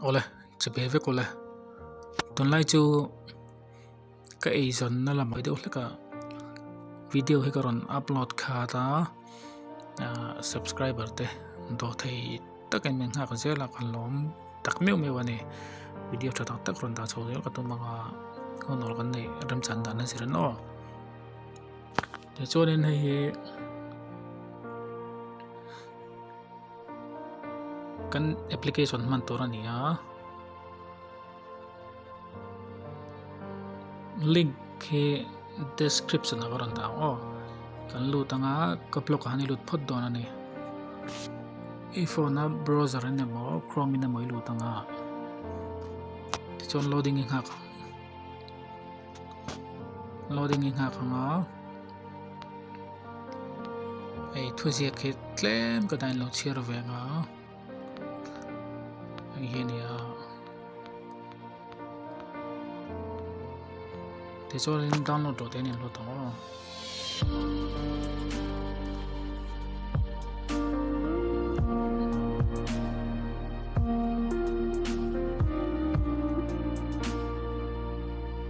Awle che ve vek awle tunlai chu ka ei zawn na la mai deuh hlek a video hi ka rawn upload khat a ah subscriber te daw thei tak in min nghak zel a kan lawm tak meuh meuh a ni video tha tak tak rawn dah chho zel ka tum ang a ho nawr kan nei remchan dan a zir nawh tichuan in hei hi. kan application hman tur a ni a link khi description ah ka rawn dah ang aw kan lut anga ka blog ah hian i lut phawt dawn a ni i phone a browser in emaw chrome in emaw i lut anga tichuan loading i nghak loading i nghak anga hei thuziak khi tlem ka dan lo chhiar ve nga hei hi ni a te chuan in download lo te nen lo tang aw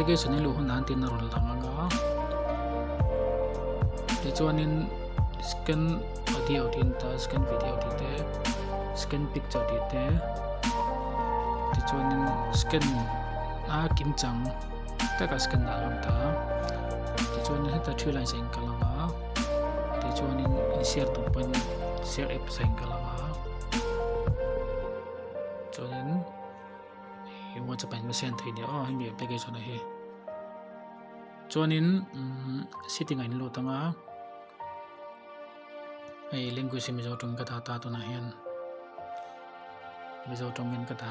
application i luh hunah an tihna rawn lang anga tichuanin scan audio tih inta scan video tih te scan picture tih te tichuanin scan a kim chang taka scan dan ang ta tichuan heta three lines a inkalh anga. tichuanin in share tur pawhin share app sahin ka la a chuanin hi whatsapp in message thei nia oh hemi application a hi chuanin setting a in lut anga hei language mizo tawng ka ta ta tunah hian mizo tawngin ka ta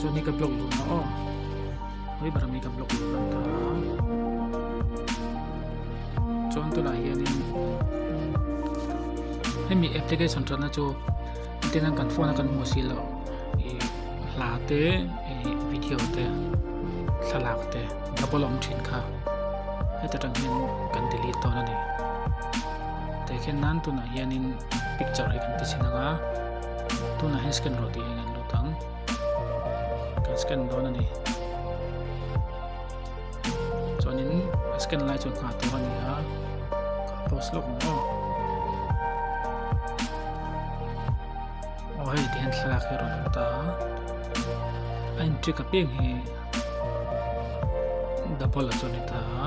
Zun hi ka block dun na o. Hoi bara mi ka block dun na ta. Chuan tu la hian in. Hemi application chuan na chu. Tin an kan phone a kan mu si lo. E hla te e video te. Thlalak te. Double om chin kha. Heta tan hian kan delete to na ni. Te khian nan tu na hian in picture hi kan ti chin anga. tunah hian scan rawh tiin kan lut ang kan scan dawn a ni chuanin scan lai chu nghah tur a ni a post lawk maw aw hei tihian thlalak hi rawn awm ta a in trick a peng hi double a chu a ni ta a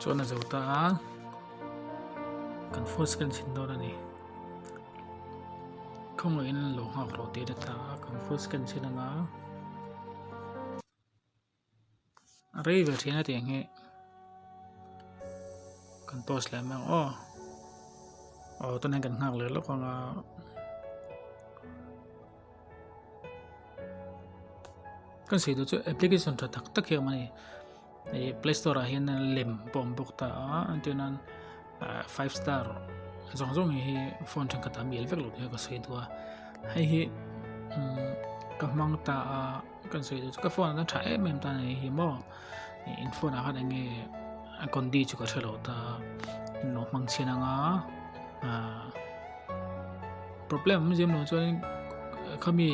chuan a zo ta a kan first kan sin dawn a ni khawng lo in lo nghak rawh tih a ta a kan first kan sin anga a rei ve thin a tiang hi kan post leh mang aw aw tan hian kan nghak leh lawk anga kan sawi duh chu application tha tak tak hi a awm a ni ih play store ah hian lem pawh a awm bawk ta a a tiang an ah five star zawng zawng hi phone thenkhatah a bial vek lo tih ka sawi dua hei hi umm ka hmang ta a kan sawi duh chu ka phone ah ta tha em em ta a ni hi maw. in phone ah khan eng nge a conti chu ka hre lo ta in lo hmang chhin anga ah problem awm zia maw chuan khami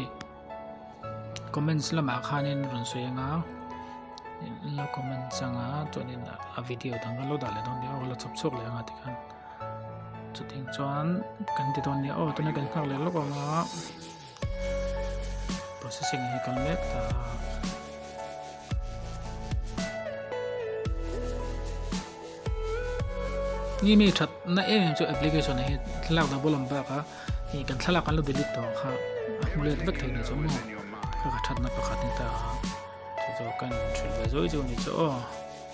comments lamah khanin rawn sawi anga la comment changa chuanin a video dang lo dah leh dawn nia aw la chhawp chhuak leh anga tikhan chutiang chuan kan ti dawn nia aw tuna kan nghak leh lawk ang a. processing hi kal mek ta a. ni mi that na em em chu application hi thlalak da bolam ba ka hi kan thlalak kan lo delete to kha a mulet bek thei ni chu mo ka that na pakhat ni ta chu chu kan thil ve zoi chu ni chu o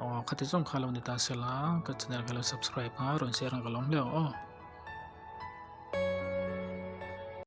Aw kha ti zawng kha lo ni ta se la ka channel ka lo subscribe a rawn share ang ka lo hlauh aw.